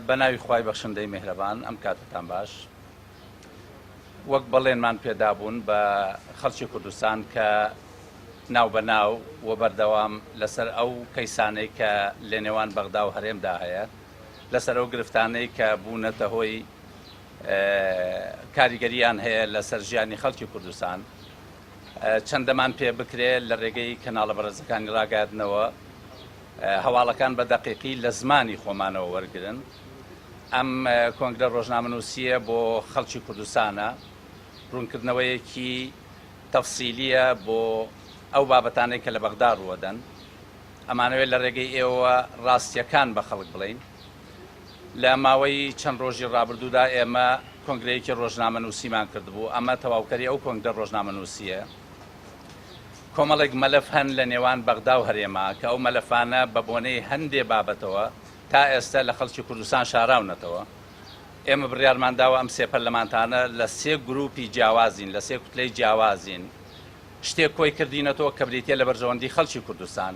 بەناوی خوای بەخشندەی مێهرەبان ئەم کاتەتان باش وەک بەڵێنمان پێدابوون بە خەڵکی کوردستان کە ناو بە ناو و بەردەوام لەسەر ئەو کەیسانەی کە لە نێوان بەغدا و هەرێمدا هەیە لەسەر ئەو گرفتانەی کە بوونەتە هۆی کاریگەریان هەیە لەسەر ژیانی خەڵکی کوردستان چەندەمان پێ بکرێت لە ڕێگەی کەناڵە بەڕێزەکانی ڕاگەاندنەوە هەواڵەکان بە دەقیقی لە زمانی خۆمانەوە وەرگرن. ئەم کۆنگرە ڕۆژنامەنووسییە بۆ خەڵکی کوردستانە، ڕوونکردنەوەیەکی تەفسیلییە بۆ ئەو بابەتانەی کە لە بەغدا ڕووەدەن. ئەمانەوێت لە ڕێگەی ئێوەوە ڕاستییەکان بە خەڵک بڵێین. لە ماوەی چەند ڕۆژی ڕابردوودا ئێمە کۆنگرەیەکی ڕۆژنامەنووسیمان کردبوو، ئەمە تەواوکەری ئەو کۆنگرە ڕۆژنامەنووسییە. کۆمەڵێک مەلەف هەن لە نێوان بەغدا و هەرێما کە ئەو مەلەفانە بە بۆنەی هەندێ بابەتەوە تا ئێستە لە خەڵکی کوردستان شاراونەتەوە. ئێمە بڕیارمان داوە ئەم سێ پەرلەمانتانە لە سێ گرووپی جیاوازین، لە سێ کوتلەی جیاوازین، شتێک کۆی کردینەتەوە کە بریتییە لە بەرژەوەندی خەڵکی کوردستان.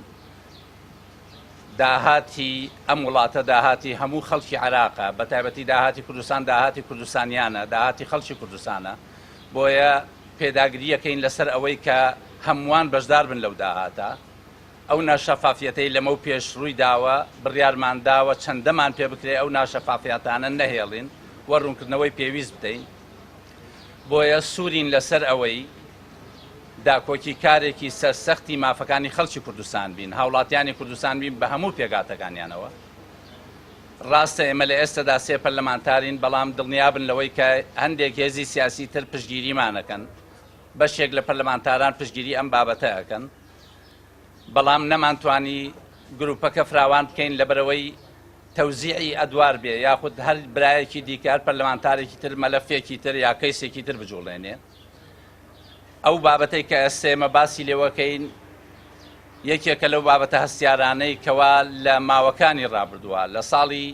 داهاتی ئەم وڵاتە داهاتی هەموو خەڵکی عێراقە، بە تایبەتی داهاتی کوردستان داهاتی کوردستانییانە، داهاتی خەڵکی کوردستانە. بۆیە پێداگری یەکەین لەسەر ئەوەی کە هەمووان بەشدار بن لەو داهاتە. ئەو ناشەفافیەتەی لەمەو پێش رووی داوە بڕیارمان داوە چەندەمان پێ بکرێ ئەو ناشەفافیاتانە نەهێڵین و روونکردنەوەی پێویست بدەین. بۆیە سوورین لەسەر ئەوەی داکۆکی کارێکی سەر سەختی مافەکانی خەڵکی کوردستان بین، هاوڵاتیانی کوردستان بین بە هەموو پێگاتەکانیانەوە. ڕاستە ئێمە لە ئێستەدا سێ پەرلەمانتارین، بەڵام دڵنیابن لەوەی کە هەندێک هێزی سیاسی تر پشتگیریمان ئەکەن، بەشێک لە پەرلەمانتاران پشتگیری ئەم بابەتە ئەکەن، بەڵام نەمانتوانی گروپەکە فراوان بکەین لەبەرئەوەی تەوزیعی ئەدوار بێ یاخود هەر برایەکی دیکە، هەر پەرلەمانتارێکی تر مەلەفێکی تر یا کەیسێکی تر بجوڵێنێ. ئەو بابەتەی کە ئێستێمە باسی لێوەکەین یەکێکە لەو بابەتە هەستیارانەی کەوا لە ماوەکانی ڕابردووە لە ساڵی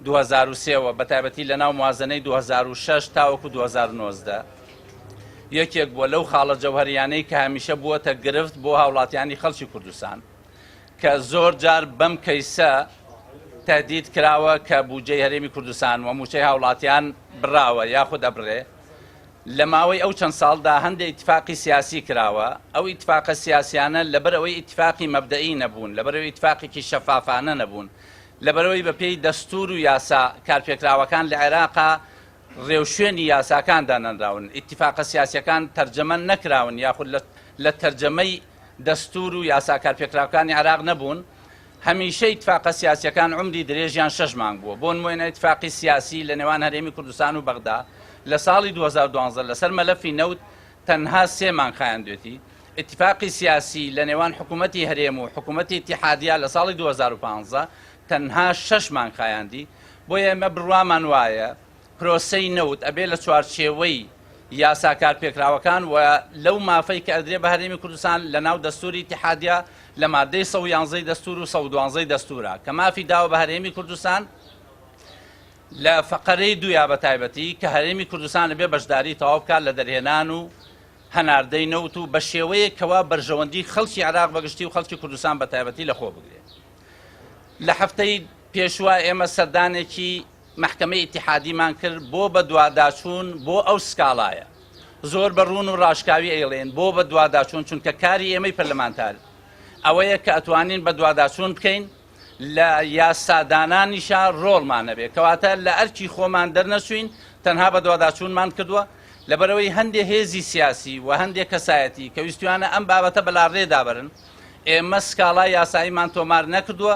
2023ەوە بە تایبەتی لە ناو موازنەی 2006 تاوەکو 2019 یەکێک بووە لەو خاڵە جەوهریانەی کە هەمیشە بووەتە گرفت بۆ هاوڵاتیانی خەڵکی کوردستان کە زۆر جار بەم کەیسە تهدید کراوە کە بودجەی هەرێمی کوردستان و موچەی هاوڵاتیان براوە یاخود ئەبرێ لە ماوەی ئەو چەند ساڵدا هەندێ ئیتفاقی سیاسی کراوە، ئەو ئیتفاقە سیاسیانە لەبەرئەوەی ئیتفاقی مەبدەئی نەبوون، لەبەرئەوەی ئیتفاقێکی شەفافانە نەبوون، لەبەرئەوەی بە پێی دەستوور و یاسا کارپێکراوەکان لە عێراقا رێوشوێنی یاساکان دانەنراون، ئیتفاقە سیاسیەکان تەرجەمە نەکراون یاخود لە تەرجەمەی دەستوور و یاسا کارپێکراوکانی عێراق نەبوون، هەمیشە ئیتفاقە سیاسیەکان عومری درێژیان شەش مانگ بووە، بۆ نموێنە ئیتفاقی سیاسی لە نێوان هەرێمی کوردستان و بەغدا لە ساڵی دوو هەزار و دوازدە لەسەر مەلەفی نەوت تەنها سێ مانگ خایاندوێتی، ئیتفاقی سیاسی لە نێوان حکوومەتی هەرێم و حکوومەتی ئیتیحادیە لە ساڵی دوو هەزار و پازدە تەنها شەش مانگ خایاندی، بۆیە ئێمە بڕوامان وایە، پرۆسەی نەوت ئەبێ لە چوارچێوەی یاسا کارپێکراوەکان و لەو مافەی کە ئەدرێ بە هەرێمی کوردستان لە ناو دەستووری ئیتیحادیە لە ماددەی سەد و یانزەی دەستوور و سەد و دوانزەی دەستوورە کە مافی داوە بە هەرێمی کوردستان لە فەقەرەی دوویا بە تایبەتی کە هەرێمی کوردستان لەبێ بەشداری تەواو بکات لە دەرهێنان و هەناردەی نەوت و بە شێوەیەک کەوا بەرژەوەندی خەڵکی عراق بەگشتی و خەڵکی کوردستان بە تایبەتی لە خۆ بگرێت لە هەفتەی پێشوە ئێمە سەردانێکی مەحکەمەی ئیتیحادیمان کرد بۆ بەدواداچوون بۆ ئەو سکاڵایە زۆر بە ڕوون و ڕاشکاوی ئەیڵێین بۆ بەدواداچوون چونکە کاری ئێمەی پەرلەمانتار ئەوەیە کە ئەتوانین بەدواداچوون بکەین لە یاسادانانیشا ڕۆڵمان نەبێ کەواتە لە ئەرکی خۆمان دەرنەچووین تەنها بەدواداچوونمان کردووە لەبەرەوەی هەندێ هێزی سیاسی و هەندێ کەسایەتی کە ویستویانە ئەم بابەتە بەلاڕێدا بەرن ئێمە سکاڵا یاساییمان تۆمار نەکردووە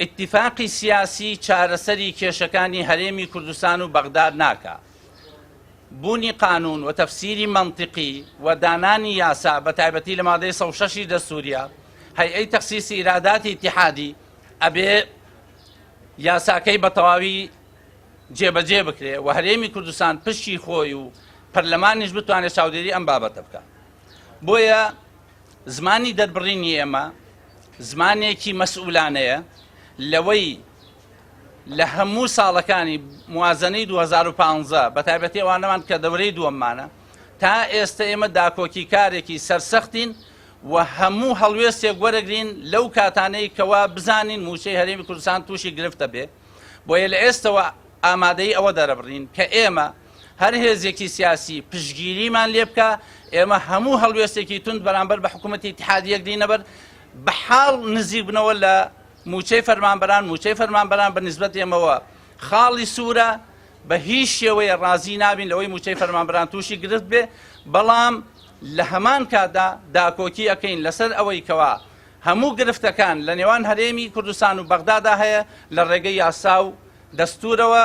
ئیتیفاقی سیاسی چارەسەری کێشەکانی هەرێمی کوردستان و بەغداد ناکا. بوونی قانون و تەفسیری مەنتیقی و دانانی یاسا بە تایبەتی لە مادەی سەد و شەش ی دەستووریە هەیئەی تەخسیسی ئیراداتی ئیتیحادی ئەبێ یاساکەی بە تەواوی جێبەجێ بکرێ و هەرێمی کوردستان پشکی خۆی و پەرلەمانیش بتوانێت چاودێری ئەم بابەتە بکا. بۆیە زمانی دەربڕینی ئێمە زمانێکی مەسئولانەیە لەوەی لە هەموو ساڵەکانی موازنەی 2015 بە تایبەتی ئەوانەمان کە دەورەی دووەممانە تا ئێستا ئێمە داکۆکی کارێکی سەرسەختین و هەموو هەڵوێستێک وەرەگرین لەو کاتانەی کەوا بزانین موچەی هەرێمی کوردستان تووشی گرفتە بێ بۆیە لە ئێستەوە ئامادەی ئەوە دەرەبڕین کە ئێمە هەر هێزێکی سیاسی پشتگیریمان لێ بکا، ئێمە هەموو هەڵوێستێکی توند بەرامبەر بە حکوومەتی ئیتحادییە گرینە بەر، بە حاڵ نزیک بنەوە لە مووچەی فەرمانبەران، مووچەی فەرمانبەران بە نیسبەت ئێمەوە خاڵی سوورە، بە هیچ شێوەیە ڕازی نابین لەوەی مووچەی فەرمانبەران تووشی گرفت بێ، بەڵام لە هەمان کاتدا داکۆکی ئەکەین لەسەر ئەوەی کەوا هەموو گرفتەکان لە نێوان هەرێمی کوردستان و بەغدادا هەیە لە ڕێگەی یاسا و دەستوورەوە،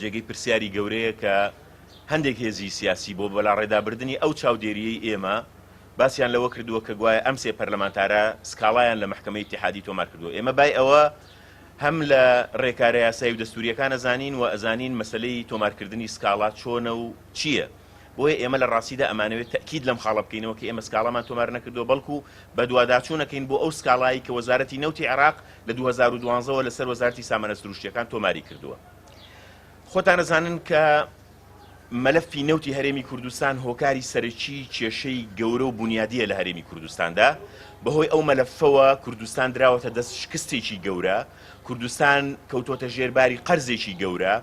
جێگەی پرسیاری گەورەیە کە هەندێک هێزی سیاسی بۆ بەلاڕێدابردنی ئەو چاودێرییەی ئێمە، باسیان لەوە کردووە کە گوایە ئەم سێ پەرلەمانتارە سکاڵایان لە مەحکەمەی ئیتیحادی تۆمار کردووە. ئێمە بای ئەوە هەم لە رێکارە یاسایی و دەستوورییەکان ئەزانین و ئەزانین مەسەلەی تۆمارکردنی سکاڵا چۆنە و چییە. بۆیە ئێمە لە ڕاستیدا ئەمانەوێت تەئکید لەم خاڵە بکەینەوە کە ئێمە سکاڵامان تۆمار نەکردووە بەڵکو بەدواداچوون ئەکەین بۆ ئەو سکاڵایەی کە وەزارەتی نەوتی عێراق لە دوو هەزار و دوازدە وە لەسەر وەزارەتی سامانە سروشتییەکان تۆماری کردووە خۆتان ئەزانن کە مەلەفی نەوتی هەرێمی کوردستان هۆکاری سەرەکی کێشەی گەورە و بنیادیە لە هەرێمی کوردستاندا بەهۆی ئەو مەلەفەوە کوردستان دراوەتە دەست شکستێکی گەورە کوردستان کەوتۆتە ژێرباری قەرزێکی گەورە و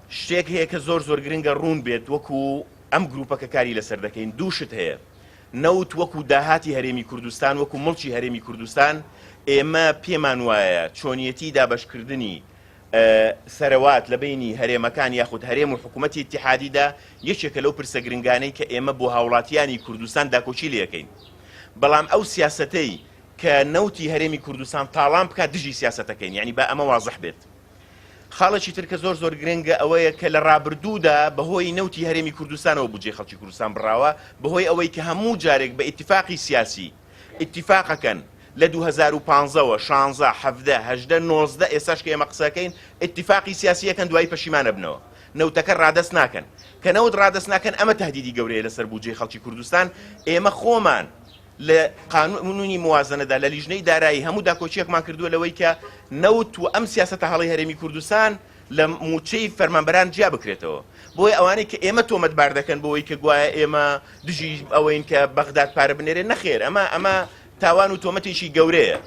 شتێک هەیە کە زۆر زۆر گرنگە ڕوون بێت وەکو ئەم گروپە کە کاری لەسەر دەکەین دوو شت هەیە نەوت وەکو داهاتی هەرێمی کوردستان وەکو مڵکی هەرێمی کوردستان ئێمە پێمان وایە چۆنیەتی دابەش کردنی سەرەوات لە بینی هەرێمەکان یاخود هەرێم و حکومەتی ئیتیحادیدا یەکێکە لەو پرسە گرنگانەی کە ئێمە بۆ هاوڵاتیانی کوردستان داکۆکی لێکەین بەڵام ئەو سیاسەتەی کە نەوتی هەرێمی کوردستان تاڵان بکات دژی سیاسەتەکەین یعنی با ئەمە وازح بێت خاڵێکی تر کە زۆر زۆر گرنگە ئەوەیە کە لە ڕابردوودا بەهۆی نەوتی هەرێمی کوردستانەوە بودجەی خەڵکی کوردستان بڕاوە بەهۆی ئەوەی کە هەموو جارێک بە ئیتیفاقی سیاسی ئیتیفاقەکەن لە دوو هەزار و پازدە وە شانزە حەڤدە هەژدە نۆزدە ئێستاش کە ئێمە قسەکەین ئیتیفاقی سیاسی ئەکەن دوایی پەشیمان ئەبنەوە نەوتەکە ڕادەست ناکەن کە نەوت ڕادەست ناکەن ئەمە تەهدیدی گەورەیە لەسەر بودجەی خەڵکی کوردستان ئێمە خۆمان لە قانونی موازنەدا لە لیژنەی دارایی هەموو داکۆکیەکمان کردووە لەوەی کە نەوت و ئەم سیاسەتە هەڵەی هەرێمی کوردستان لە مووچەی فەرمانبەران جیا بکرێتەوە بۆیە ئەوانەی کە ئێمە تۆمەتبار دەکەن بۆەوەی کە گوایە ئێمە دژی ئەوەین کە بەغداد پارە بنێرێ نەخێر ئەمە ئەمە تاوان و تۆمەتێکی گەورەیە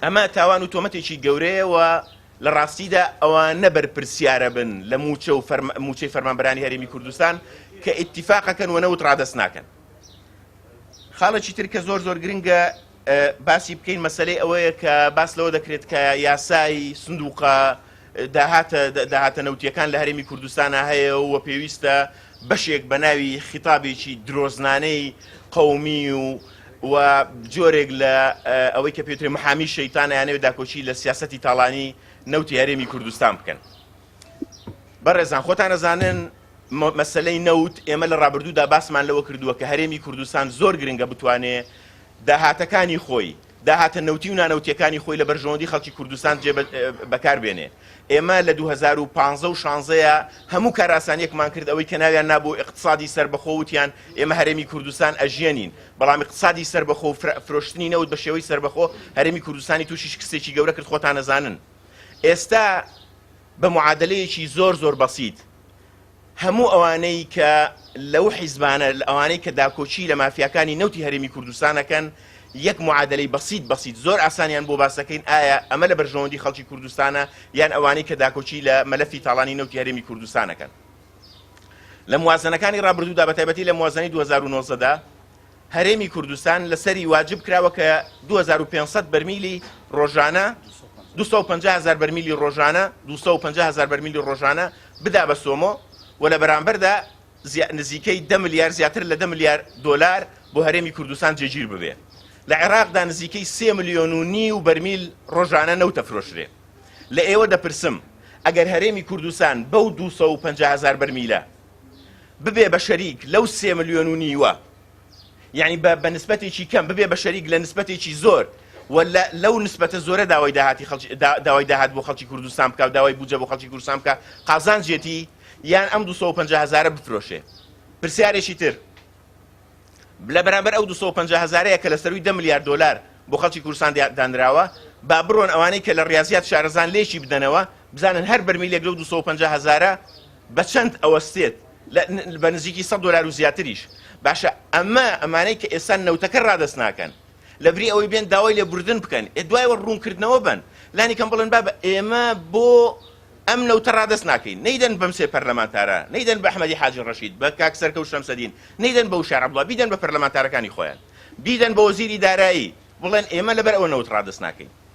ئەمە تاوان و تۆمەتێکی گەورەیە و لە ڕاستیدا ئەوانە بەرپرسیارە بن لە مووچە و مووچەی فەرمانبەرانی هەرێمی کوردستان کە ئیتیفاقەکەن و نەوت ڕادەست ناکەن. خاڵێکی تر کە زۆر زۆر گرنگە باسی بکەین مەسلەی ئەوەیە کە باس لەوە دەکرێت کە یاسای سندوقە داهاتە داهاتە نەوتیەکان لە هەرێمی کوردستانە هەیە و پێویستە بەشێک بە ناوی خیتابێکی درۆزنانەی قومی و و جۆرێک لە ئەوەی کە پێترێ محامی شەیتان یانەوێت داکۆکی لە سیاستی تاڵانی نەوتی هەرێمی کوردستان بکەن بەڕێزان خۆتان نەزانن مەسلەی نەوت ئێمە لە ڕابردوودا باسمان لەوە کردووە کە هەرێمی کوردستان زۆر گرنگە بتوانێ داهاتەکانی خۆی داهاتە نەوتی و نانەوتیەکانی خۆی لە بەرژەوەندی خەڵکی کوردستان جێ بەکار بێنێ ئێمە لە دوو هەزار و پازدە و شانزە ە هەموو کارئاسانیەکمان کرد ئەوەی کە ناویان نابوو ئیقتسادی سەربەخۆ وتیان ئێمە هەرێمی کوردستان ئەژیەنین بەڵام ئیقتسادی سەربەخۆ و فرۆشتنی نەوت بە شێوەی سەربەخۆ هەرێمی کوردستانی توشی شکستێکی گەورە کرد خۆتان ئەزانن ئێستا بە معادەلەیەکی زۆر زۆر بەسیت هەموو ئەوانەی کە لەو حیزبانە ئەوانەی کە داکۆچی لە مافیاکانی نەوتی هەرێمی کوردستانەکەن یەک معادلەی بەسییت بەسییت زۆر ئاسانیان بۆ باسەکەین ئایا ئەمە لە بەرژەوەندی خەڵکی کوردستانە یان ئەوانەی کە داکۆچی لە مەلەفی تاڵانی نەوتی هەرێمی کوردستانەکەن لە موازنەکانی ڕابردوودا بە تایبەتی لە موازنەی 2009دا هەرێمی کوردستان لەسەری واجب کراوە کە دوو هەزار و پێنج سەد بەرمیلی ڕۆژانە دوو سەد و پەنجا هەزار بەرمیلی ڕۆژانە دوو سەد و پەنجا هەزار بەرمیلی ڕۆژانە بدا بە سۆمۆ و لە بەرامبەردا زیا- نزیکەی دە ملیار زیاتر لە دە ملیار دۆلار بۆ هەرێمی کوردستان جێگیر ببێ لە عێراقدا نزیکەی سێ ملیۆن و نیو بەرمیل ڕۆژانە نەوت ئەفرۆشرێ لە ئێوە دەپرسم ئەگەر هەرێمی کوردستان بەو دوو سەد و پەنجا هەزار بەرمیلە ببێ بە شەریک لەو سێ ملیۆن و نیوە یعنی بە بە نسبەتێکی کەم ببێ بە شەریک لە نسبەتێکی زۆر و لەو نسبەتە زۆرە داوای داهاتی خەڵکی داوای داهات بۆ خەڵکی کوردستان بکە و داوای بوجە بۆ خەڵکی کوردستان بکە قازانجێتی یان ئەم 250 هزارە بفرۆشێ پرسیارێکی تر لە بەرامبەر ئەو 250 هزارەیە کە لە سەروی ده میلیارد دلار بۆ خەڵکی کوردستان دانراوە با بڕۆن ئەوانەی کە لە ڕاضیات شارەزان لێکی بدەنەوە بزانن هەر بەرمیلێک لەو 250 هزارە بە چەند ئەوەستێت لە بە نزیکی سەد دۆلار و زیاتریش باشە ئەمە ئەمانەی کە ئێستا نەوتەکە ڕادەست ناکەن لەبری ئەوەی بێن داوای لێ بوردن بکەن ئێ دوایەوە ڕوونکردنەوە بن لانی کەم بڵێن بابە ئێمە بۆ ئەم نەوتە ڕادەست ناکەین نەیدەن بەم سێ پەرلەمانتارە نەیدەن بە ئەحمەدی حاجی ڕەشید بە کاک سەرکەوت شەمسەدین نەیدەن بە وشار عەبدوڵڵا بیدەن بە پەرلەمانتارەکانی خۆیان بیدەن بە وەزیری دارایی بڵێن ئێمە لەبەر ئەوە نەوت ڕادەست ناکەین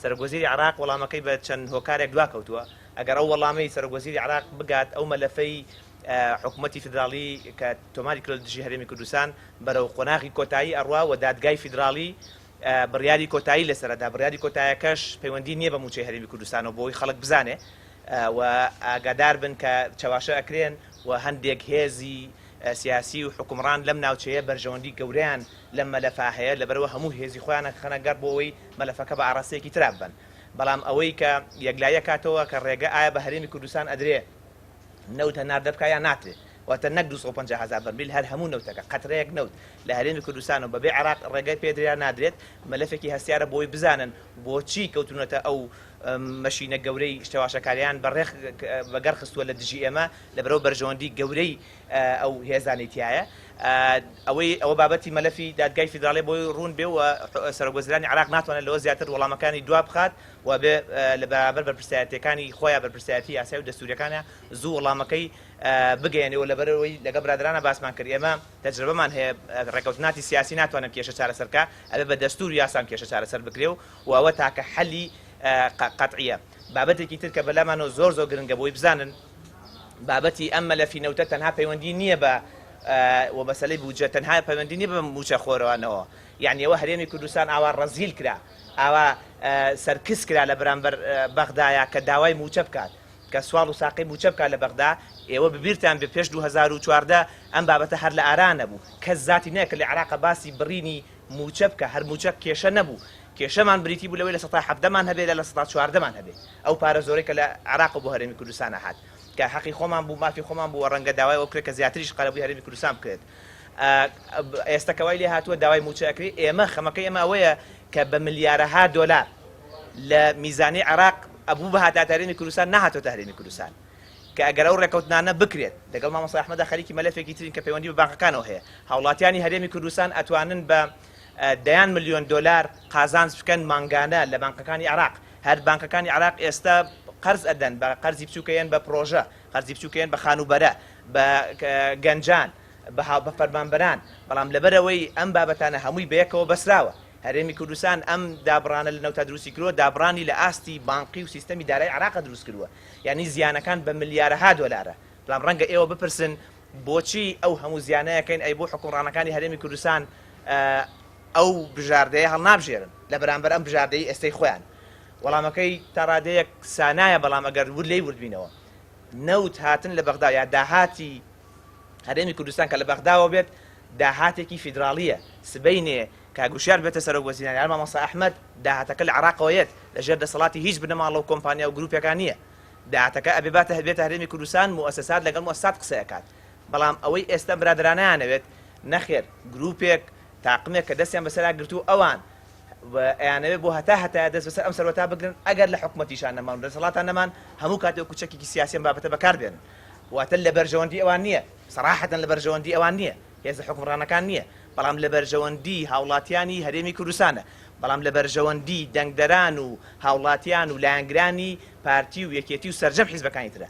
سەرۆک وەزیری عێراق وەڵامەکەی بە چەند هۆکارێک دواکەوتووە، ئەگەر ئەو وەڵامەی سەرۆک وەزیری عێراق بگات ئەو مەلەفەی حکومەتی فیدراڵی کە تۆماری کردووە لە دژی هەرێمی کوردستان بەرەو قۆناغی کۆتایی ئەڕوا و دادگای فیدراڵی بڕیاری کۆتایی لەسەر ئەدا، بڕیاری کۆتایەکەش پەیوەندی نییە بە مووچەی هەرێمی کوردستانەوە بۆوەی خەڵک بزانێ و ئاگادار بن کە چەواشە ئەکرێن و هەندێک هێزی سیاسی و حوکمڕان لەم ناوچەیە بەرژەوەندی گەورەیان لەم مەلەفە هەیە لەبەرئەوە هەموو هێزی خۆیان ئەخەنە گەڕ بۆوەی مەلەفەکە بە ئاڕاستەیەکی ترا ببەن بەڵام ئەوەی کە یەکلایی ئەکاتەوە کە ڕێگە ئایا بە هەرێمی کوردستان ئەدرێ نەوت هەناردە بکا یان ناترێ واتە نەک دوو سەد و پەنجا هەزار بەرمیل هەر هەموو نەوتەکە قەترەیەک نەوت لە هەرێمی کوردستان و بەبێ عێراق ڕێگەی پێ درێ یان نادرێت مەلەفێکی هەستیارە بۆی بزانن بۆچی کەوتونەتە ئەو مەشینە گەورەی چەواشەکاریان بە ڕێخ بە گەڕ خستووە لە دژی ئێمە لەبەرئەو بەرژەوەندی گەورەی ئەو هێزانەی تیایە ئەوەی ئەوە بابەتی مەلەفی دادگای فیدراڵیە بۆی ڕوون بێ و سەرۆک وەزیرانی عێراق ناتوانێت لەوە زیاتر وەڵامەکانی دوا بخات و بێ لە بەرامبەر بەرپرسیارەتیەکانی خۆیان بەرپرسیارەتی یاسای و دەستوریەکانە زوو وەڵامەکەی بگەیەنێ و لەبەرەوەی لەگەڵ برادەرانە باسمان کرد ئێمە تەجرەبەمان هەیە ڕێکەوتناتی سیاسی ناتوانێت کێشە چارەسەر کا ئەبێ بە دەستور و یاسا کێشە چارەسەر بکرێ و ئەوە تاکە حەلی قەتعیە بابەتێکی تر کە بەلامانەوە زۆر زۆر گرنگە بۆی بزانن بابەتی ئەم مەلەفی نەوتە تەنها پەیوەندی نییە بە و بەسەلەی بودجە تەنها پەیوەندی نیە بە موچە خۆرانەوە یعنی ئەوە هەرێمی کوردستان ئاوا ڕەزیل کرا ئاوا سەرکس کرا لە بەرامبەر بەغدایا کە داوای موچە بکات کە سوال و ساقی موچە بکات لە بەغدا ئێوە ببیرتان بێ پێش 2014 ئەم بابەتە هەر لە ئارا نەبوو کەس زاتی نەیە کە لە عێراق باسی بڕینی موچە بکە هەر موچە کێشە نەبوو کێشەمان بریتی بوو لەوەی لە سەتا حەڤدەمان هەبێ لە لە سەتا چواردەمان هەبێ ئەو پارە زۆرەی کە لە عێراق و بۆ هەرێمی کوردستان ئەهات کە هەقی خۆمان بوو مافی خۆمان بوو وە ڕەنگە داوای ئەوە بکرێت کە زیاتریش قەرەبووی هەرێمی کوردستان بکرێت ئێستا کە وای لێ هاتووە داوای مووچە ئەکرێ ئێمە خەمەکەی ئێمە ئەوەیە کە بە ملیارەها دۆلار لە میزانی عێراق ئەبوو بهاتاتە هەرێمی کوردستان نەهاتۆتە هەرێمی کوردستان کە ئەگەر ئەو ڕێکەوتنانە بکرێت لەگەڵ مامۆستا ئەحمەدا خەریکی مەلەفێکی ترین کە پەیوەندی بە بانقەکانەوە هەیە هاوڵاتیانی هەرێمی کوردستان ئەتوانن بە دەیان ملیۆن دۆلار قازانج بکەن مانگانە لە بانقەکانی عێراق هەر بانکەکانی عێراق ئێستا قەرز ئەدەن بە قەرزی بچووکەیەن بە پرۆژە قەرزی بچووکەیەن بە خانوبەرە بە گەنجان بە هاو بە فەرمانبەران بەڵام لەبەرەوەی ئەم بابەتانە هەمووی بەیەکەوە بەسراوە هەرێمی کوردستان ئەم دابڕانە لە نەوتا دروستی کردوە دابڕانی لە ئاستی بانقی و سیستەمی دارای عراق دروست کردوە یعنی زیانەکان بە ملیارەها دۆلارە بەڵام ڕەنگە ئێوە بپرسن بۆچی ئەو هەموو زیانەیەکەین ئەی بۆ حکومڕانەکانی هەرێمی کوردستان ئەو بژاردەیە هەڵنابژێرن لە بەرامبەر ئەم بژاردەی ئێستەی خۆیان؟ وەڵامەکەی تا ڕادەیەک سانایە، بەڵام ئەگەر ورد لێی وردبینەوە، نەوت هاتن لە بەغدا یا داهاتی هەرێمی کوردستان کە لە بەغداوە بێت، داهاتێکی فیدراڵییە، سبەینێ کاک وشیار ببێتە سەرۆک وەزیران یان مامۆستا ئەحمەد، داهاتەکە لە عێراقەوە یەت، لە ژێر دەسەڵاتی هیچ بنەماڵە و کۆمپانیا و گروپێکا نییە، داهاتەکە ئەبێ باتە بێتە هەرێمی کوردستان، موئەسەسات لەگەڵ موئەسەسات قسەی ئەکات، بەڵام ئەوەی ئێستە برادەرانەیانەوێت، نەخێر گروپێک، تاقمێک کە دەستیان بەسەرا گرتوو ئەوان ئەیانەوێ بۆ هەتا هەتایە دەست بەسەر ئەم سەرەتا بگرن ئەگەر لە حکومەتیشان نەمان دەسەڵاتان نەمان هەموو کاتێ وەکو چەکێکی سیاسیان بابەتە بەکاردێن واتە لە بەرژەوەندی ئەوان نییە سەراحەتەن لە بەرژەوەندی ئەوان نییە هێزە حکومڕانەکان نییە بەڵام لە بەرژەوەندی هاوڵاتیانی هەرێمی کوردستانە بەڵام لە بەرژەوەندی دەنگدەران و هاوڵاتیان و لایەنگرانی پارتی و یەکێتی و سەرجەم حیزبەکانی ترە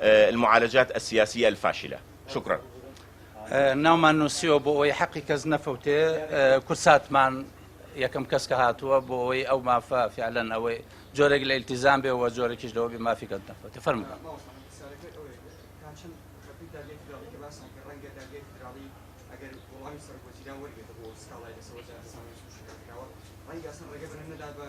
المعالجات السیاسیە الفاشلە شکرا. ناومان نوسیوە بۆ ئەوەی حەقی کەس نەفەوتێ کورساتمان یەکەم کەس کە هاتووە بۆ ئەوەی ئەو مافە فعلەن ئەوەی جۆرێک لە ئیلتیزام بێ وە جۆرەکیش لەوە بێ مافی کەس نەفەوتێ فەرمووبەن ڕەنگە ئەسڵەن ڕێگە بەرن نەدات بە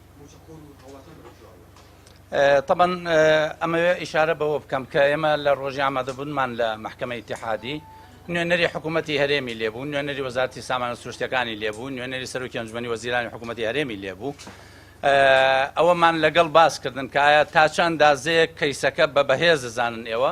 تەبەن ئەمەوێ ئیشارە بەوە بکەم کە ئێمە لە ڕۆژی ئامادەبوونمان لە محکمە ئیتحادی نوێنەری حکوومەتتی هەرێمی لێبوو نوێنەری وەزارتی سامانە سروشتەکانی لێبوو نوێنەری سەرۆکی ئەنجومی وەزیرانی حکوومەتتی هەرێمی لێبوو ئەوەمان لەگەڵ باسکردن کایە تا چەند دازەیە کەیسەکە بە بەهێز دەزانن ئێوە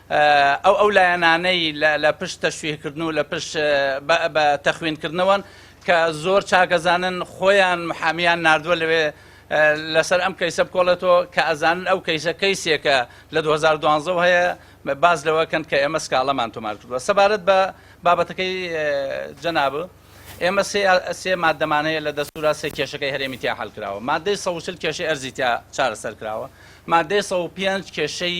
ئەو ئەو لایەنانەی لە پشت تەشویهکردن و لە پشت بە تەخویندکردنەوەن کە زۆر چاکەزانن خۆیان محامیان ناردووە لەوێ لەسەر ئەم کەیسە بکۆڵێتەوە کە ئەزانن ئەو کەیسە کەیسێکە لە 2012 هەیە باز لەوەکەن کە ئێمە سکاڵەمان تۆمار کردووە سەبارەت بە بابەتەکەی جەناب ئێمە سێ مادەمان هەیە لە دەستورا سێ کێشەکەی هەرێمی تیا حل کراوە مادەی سەوچل کێشەی ئەرزی تیا چارەسەر کراوە مادەی سە پێنج کێشەی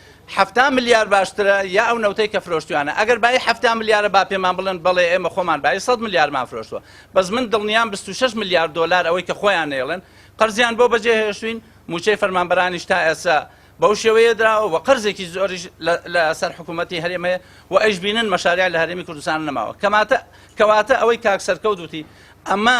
حەفتا ملیار باشترە یا ئەو نەوتەی کە فرۆشتویانە ئەگەر بایی حەفتا ملیارە با پێمان بڵێن بەڵێ ئێمە خۆمان بایی سەد ملیارمان فرۆشتوە بەس من دڵنیام بیست و شەش ملیار دۆلار ئەوەی کە خۆیان نەیڵێن قەرزیان بۆ بەجێ هێشتوین موچەی فەرمانبەرانیش تا ئێسا بەو شێوەیە دراوە و قەرزێکی زۆریش لە سەر حکوومەتی هەرێم هەیە و ئەیشبینن مەشاریا لە هەرێمی کوردستان نەماوە کەماتە کەواتە ئەوەی کاک سەرکەوت وتی ئەمە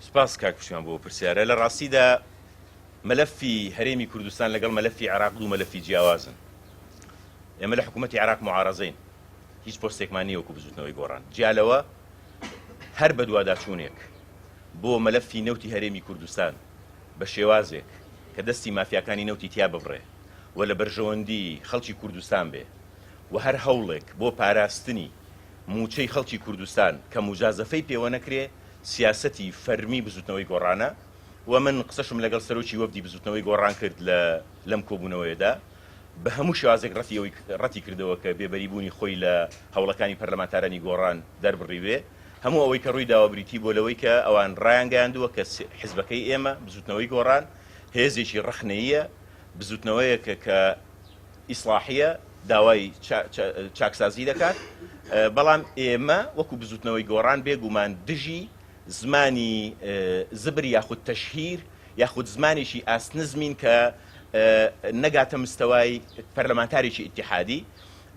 سپاس کاک پشتیوان بۆ پرسیارە لە ڕاستیدا مەلەفی هەرێمی کوردستان لەگەڵ مەلەفی عراق دوو مەلەفی جیاوازن ئێمە لە حکوومەتتی عراق معارەزەین هیچ پۆستێکمان نیوەکو بزوتنەوەی گۆڕان جیالەوە هەر بەدوواداچوونێک بۆ مەلەفی نەوتی هەرێمی کوردستان بە شێوازێک کە دەستی مافیاکانی نەوتی تیا ببڕێ و لە بەرژەوەندی خەڵکی کوردستان بێ و هەر هەوڵێک بۆ پاراستنی مووچەی خەڵکی کوردستان کە موجازەفەی پێوە نەکرێ سیاسەتی فەرمی بزوتنەوەی گۆڕانە و من قسەشم لەگەڵ سەرۆکی وەفدی بزوتنەوەی گۆڕان کرد لە لەم کۆبوونەوەیەدا بە هەموو شێوازێک ڕەتی ئەوەی ڕەتی کردەوە کە بێبەری بوونی خۆی لە هەوڵەکانی پەرلەمانتارانی گۆڕان دەربڕیوێ هەموو ئەوەی کە ڕووی داوە بریتی بووە لەوەی کە ئەوان ڕایانگەیاندووە کە حزبەکەی ئێمە بزوتنەوەی گۆڕان هێزێکی ڕەخنەییە بزوتنەوەیەکە کە ئیسڵاحیە داوای چاکسازی دەکات، بەڵام ئێمە وەکو بزوتنەوەی گۆڕان بێ گومان دژی زمانی زبر یاخود تەشهیر یاخود زمانێکی ئاست نزمین کە نەگاتە مستەوای پەرلەمانتارێکی ئیتیحادی،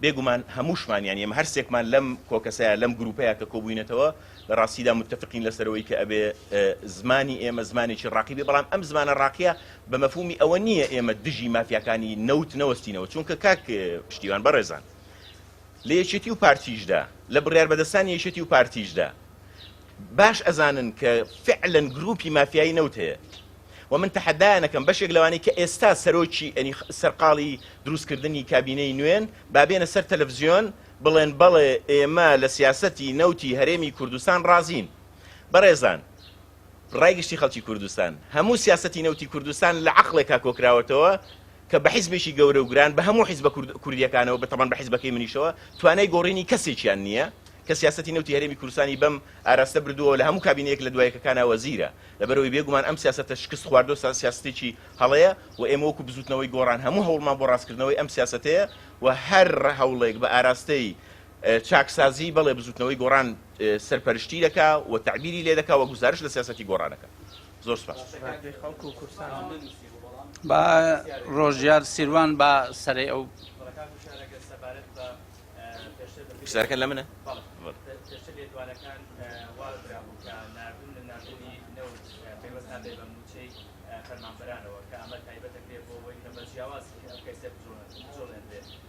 بێ گومان هەمووشمان یان ئێمە هەرسێکمان لەم کۆکەسەیا لەم گروپەیا کە کۆبوینەتەوە لە ڕاستیدا متفقین لەسەرەوەی کە ئەبێ زمانی ئێمە زمانێکی ڕاقی بێ بەڵام ئەم زمانە ڕاقیە بە مەفهومی ئەوە نییە ئێمە دژی مافیاکانی نەوت نەوەستینەوە، چونکە کاک پشتیوان بەڕێزان لە یەکێتی و پارتیشدا، لە بڕیاربەدەستانی یەکێتی و پارتیشدا باش ئەزانن کە فعلەن گرووپی مافیایی نەوت هەیە و من تەحەدایان ئەکەم بەشێک لەوانەی کە ئێستا سەرۆکی ئەنی سەرقاڵی درووستکردنی کابینەی نوێن با بێنە سەر تەلەفزیۆن بڵێن بەڵێ ئێمە لە سیاسەتی نەوتی هەرێمی کوردستان ڕازین. بەڕێزان ڕای گشتی خەڵکی کوردستان، هەموو سیاسەتی نەوتی کوردستان لە عەقڵێکا کۆکراوەتەوە کە بە حیزبێکی گەورە و گران، بە هەموو حیزبە کورد کوردییەکانەوە، بە تەبعەن بە حیزبەکەی منیشەوە، توانای گۆڕینی کەسێکیان نییە، کە سیاسەتی نەوتی هەرێمی کوردستانی بەم ئاراستە بردووە و لە هەموو کابینەیەک لە دوا یەکەکانا وەزیرە، لەبەرئەوەی بێ گومان ئەم سیاسەتە شکستخواردە و سیاسەتێکی هەڵەیە و ئێمە وەکوو بزووتنەوەی گۆڕان هەموو هەوڵمان بۆ ڕاستکردنەوەی ئەم سیاسەتەیە و هەر هەوڵێک بە ئاراستەی چاکسازی، بەڵێ بزوتنەوەی گۆڕان سەرپەرشتی دەکا و تەعبیری لێ دەکا و گوزارشت لە سیاسەتی گۆڕان ئەکا. زۆر سپاس. با ڕۆژیار سیروان با سەرەی ئەو. پرسیارەکە لە منە؟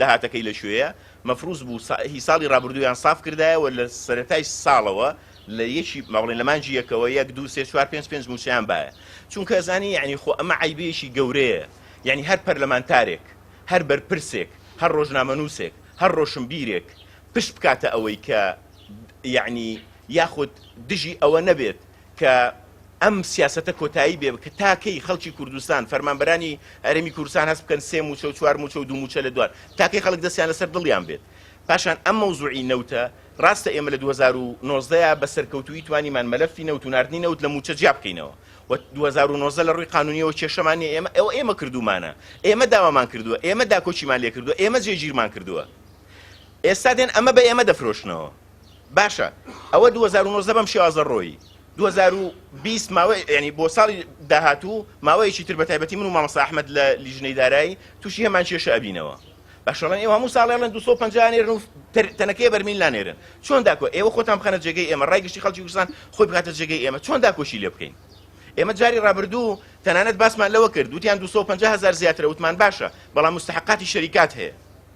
داهاتەکەی لە کوێیە؟ مەفروز بوو هی ساڵی ڕابردوویان ساف کردایە و لە سەرەتای ساڵەوە لە یەکی با بڵێین لە مانگی یەکەوە یەک دوو سێ چوار پێنج پێنج مووچەیان بایە چونکە ئەزانی یەعنی خۆ ئەمە عەیبێکی گەورەیە یەعنی هەر پەرلەمانتارێک هەر بەرپرسێک هەر ڕۆژنامەنووسێک هەر ڕۆشنبیرێک پشت بکاتە ئەوەی کە یەعنی یاخود دژی ئەوە نەبێت کە ئەم سیاسەتە کۆتایی بێ کە تا کەی خەڵکی کوردستان، فەرمانبەرانی هەرێمی کوردستان هەست بکەن سێ مووچە و چوار مووچە و دوو مووچە لە دوان، تا کەی خەڵک دەستیان لەسەر دڵیان بێت؟ پاشان ئەم مەوزوعی نەوتە، ڕاستە ئێمە لە دوو هەزار و نۆزدە یا بە سەرکەوتوویی توانیمان مەلەفی نەوت و ناردنی نەوت لە مووچە جیا بکەینەوە و دوو هەزار و نۆزدە لە ڕووی قانوونییەوە کێشەمان نییە، ئێمە ئەوە ئێمە کردوومانە، ئێمە داوامان کردووە، ئێمە داکۆکیمان لێ کردووە، ئێمە جێگیرمان کردووە. ئێستا دێن ئەمە بە ئێمە دەفرۆشنەوە. باشە ئەوە دوو هەزار و نۆزدە بەم شێوازە ڕۆیی دوو هەزار و بیست ماوەی یانی بۆ ساڵی داهاتوو ماوەیەکی تر بە تایبەتی من و مامۆستا ئەحمەد لە لیژنەی دارایی تووشی هەمان کێشە ئەبینەوە باشە بەڵێن ئێوە هەموو ساڵێ بڵێن دوو سەد و پەنجا نێرن و تر- تەنەکەی بەرمیل نانێرن چۆن داکۆ ئێوە خۆتان بخەنە جێگەی ئێمە ڕای گشتی خەڵکی کوردستان خۆی بخاتە جێگەی ئێمە چۆن داکۆکی لێ بکەین ئێمە جاری ڕابردوو تەنانەت باسمان لەوە کرد وتیان دوو سەد و پەنجا هەزار زیاترە وتمان باشە بەڵام مستحقاتی شەریکات هەیە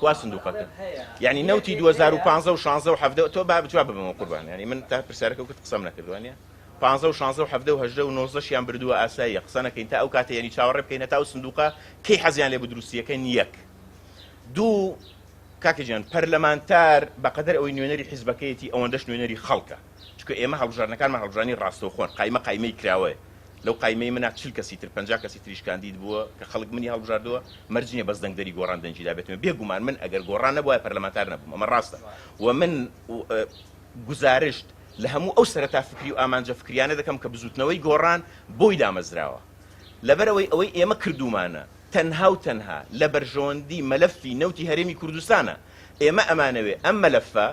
کوا سندوقەکە یعنی نەوتی 2015 و 16 و 17 تۆ با بجواب ببم قوربان یعنی من تا پرسیارەکە وکرد قسەم نەکردوانە 15 و 16 و 17 و 18 و 19 شیان بردووە ئاساییە قسە نەکەین تا ئەو کاتە یعنی چاوەڕێ بکەین هەتا ئەو سندوقە کەی حەزیان لێ بدروستیەکە نیەک دوو کاکە جیان پەرلەمانتار بەقەدەر ئەوەی نوێنەری حیزبەکەیەتی ئەوەندەش نوێنەری خەڵکە چکە ئێمە هەڵبژارنەکانمان هەڵبژانی ڕاستەوخۆن قایمە قایمەی کراوەیە لەو قایمەی منا چل کەسی تر پەنجا کەسی تریش کاندید بووە کە خەڵک منی هەڵبژاردووە مەرج نییە بەس دەنگ دەری گۆڕان دەنگی دابێتمێ بێ گومان من ئەگەر گۆڕان نەبوایە پەرلەمانتار نەبووم ئەمە ڕاستە و من گوزارشت لە هەموو ئەو سەرەتا فکری و ئامانجە فکریانە دەکەم کە بزووتنەوەی گۆڕان بۆی دامەزراوە لەبەرەوەی ئەوەی ئێمە کردومانە تەنها و تەنها لە بەرژەوەندی مەلەفی نەوتی هەرێمی کوردستانە ئێمە ئەمانەوێ ئەم مەلەفە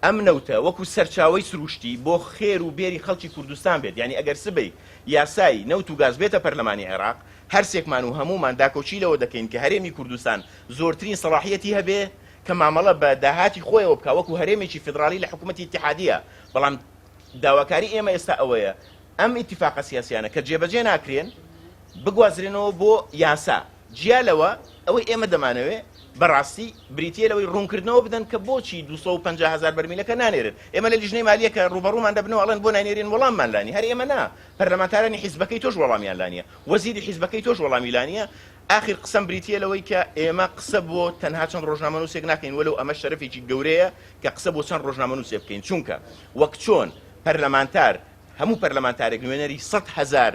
ئەم نەوتە وەکو سەرچاوەی سروشتی بۆ خێر و بێری خەڵکی کوردستان بێت، یانی ئەگەر سبەی یاسای نەوت و گاز بێتە پەرلەمانی عێراق، هەرسێکمان و هەموومان داکۆکی لەوە دەکەین کە هەرێمی کوردستان زۆرترین سەڵاحییەتی هەبێ کە مامەڵە بە داهاتی خۆیەوە بکا وەکو هەرێمێکی فیدڕاڵی لە حکوومەتی ئیتیحادییە، بەڵام داواکاری ئێمە ئێستا ئەوەیە ئەم ئیتیفاقە سیاسییانە کە جێبەجێ ناکرێن بگوازرێنەوە بۆ یاسا. جیا لەوە، ئەوەی ئێمە دەمانەوێت بەڕاستی بریتییە لەوەی ڕوونکردنەوە بدەن کە بۆچی دوو سەد و پەنجا هەزار بەرمیلەکە نانێرن. ئێمە لە لیژنەی مالییە کە ڕووبەڕوومان دەبنەوە ئەڵێن بۆ ناینێرین وەڵاممان لا نییە. هەر ئێمە نا، پەرلەمانتارانی حیزبەکەی تۆش وەڵامیان لا نییە. وەزیری حیزبەکەی تۆش وەڵامی لا نییە. ئاخر قسەم بریتییە لەوەی کە ئێمە قسە بۆ تەنها چەند ڕۆژنامەنووسێک ناکەین وەلەو ئەمە شەرەفێکی گەورەیە کە قسە بۆ چەند ڕۆژنامەنووسێ بکەین چونکە وەک چۆن پەرلەمانتار هەموو پەرلەمانتارێک نوێنەری سەد هەزار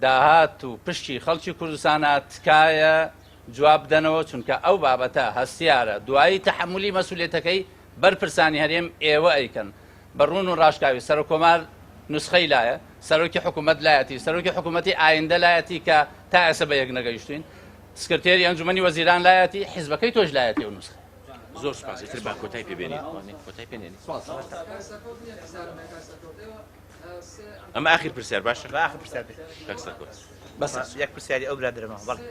داهات و پشکی خەڵکی کوردستانە تکایە جواب بدەنەوە چونکە ئەو بابەتە هەستیارە دوایی تەحەمولی مەسولیەتەکەی بەر پرسانی هەرێم ئێوە ئەیکەن بە ڕوون و ڕاشکاوی سەرۆک کۆمار نوسخەی لایە سەرۆکی حکومەت لایەتی سەرۆکی حکومەتی ئایندە لایەتی کە تا ئێسە بە یەک نەگەیشتوین سکرتێری ئەنجومەنی وەزیران لایەتی حیزبەکەی تۆش لایەتی و نوسخە زۆر سپاس ئیتر با کۆتای پێ بێنین کۆتای پێ نێنین ئەمە ئاخر پرسیار باشە بە ئاخر پرسیار بێت کاک سەرکۆز بەس بەس. یەک پرسیاری ئەو برادەرەمە بەڵێ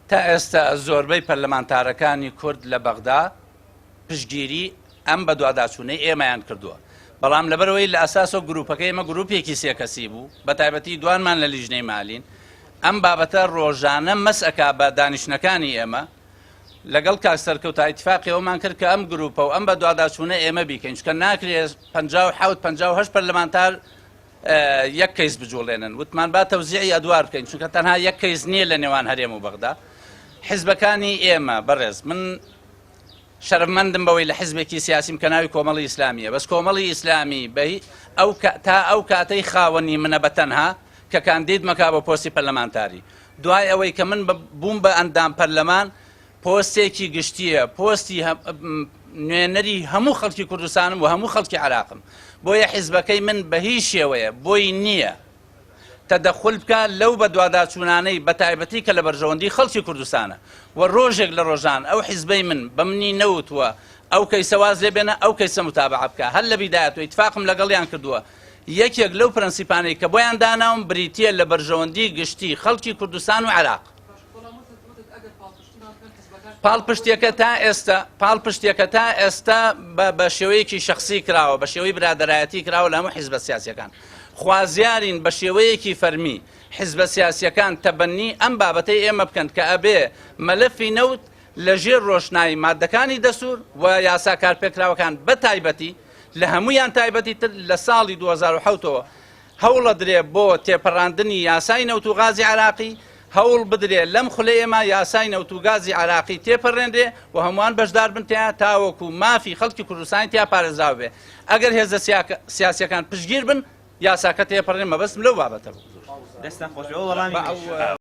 تا ئێستا زۆربەی پەرلەمانتارەکانی کورد لە بەغدا پشگیری ئەم بەدواداچوونەی ئێمەیان کردووە بەڵام لەبەرەوەی لە ئەساس و گروپەکە ئمە گروپێکی سێکەسی بوو بە تایبەتی دوانمان لە لیژنەی مالین ئەم بابەتە ڕۆژانە مەسئک بە دانیشتەکانی ئێمە لەگەڵ کاک سەرکەوت تایتفاقی ئەومان کرد کە ئەم گروپە و ئەم بە دواداچوونە ئێمە بیکەین چکە ناکرێت 1950 پەرلەمانتار یەک کەیس بجوڵێنن وتمان با تەوزیعی ئەدوار بکەین چونکە تەنها یەک کەیس نییە لە نێوان هەرێم و بەغدا حزبەکانی ئێمە بەڕێز من شەرمەندم بەوەی لە حزبێکی سیاسیم کە ناوی کۆمەڵی ئیسلامیە بەس کۆمەڵی ئیسلامی بەی ئەو تا ئەو کاتەی خاوەنی منە بە تەنها کە کاندید مەکا بۆ پۆستی پەرلەمانتاری دوای ئەوەی کە من بووم بە ئەندام پەرلەمان پۆستێکی گشتییە، پۆستی نوێنەری هەموو خەڵکی کوردستانم و هەموو خەڵکی عێراقم، بۆیە حیزبەکەی من بە هیچ شێوەیە بۆی نییە تەدەخول بکا لەو بەدواداچوونانەی بەتایبەتی کە لە بەرژەوەندی خەڵکی کوردستانە و رۆژێک لە رۆژان ئەو حیزبەی من بە منی نەوتووە ئەو کەیسە واز لێ بێنە ئەو کەیسە موتابەعە بکا هەر لە بیدایەتوە ئیتفاقم لەگەڵیان کردووە یەکێک لەو پرەنسیپانەی کە بۆیان داناوم بریتییە لە بەرژەوەندی گشتی خەڵکی کوردستان و عێراق. پاڵپشتیەکە تا ئێستا پاڵپشتیەکە تا ئێستا بە شێوەیەکی شخصی کراوە بە شێوەی برادایەتی کراوە لە هەموو حیزبە سیاسەکان خوازیارین بە شێوەیەکی فەرمی حیزبە سیاسەکان تەبەنی ئەم بابەتەی ئێمە بکەن کە ئەبێ مەلەفی نەوت لە ژێر ڕۆشنایی مادەکانی دەسوور و یاسا کارپێکراوەکان بە تایبەتی لە هەمویان تایبەتی تر لە ساڵی 2010ەوە هەوڵەدرێ بۆ تێپەڕاندنی یاسای نەوت و غازی عێراقی، هەوڵ بدرێ لەم خولەیەما یاسای نەوت و گازی عێراقی تێپەرێنرێ و هەمووان بەشدار بن تێیا تاوەکو مافی خەڵکی کوردستانی تیا پارێزراو بێ. ئەگەر هێزە سیاسییەکان پشتگیر بن یاساکە تێپەڕێ مەبەستم لەو بابەتە بوو. دەستتان خۆش بێت بۆ وەڵامی منیش.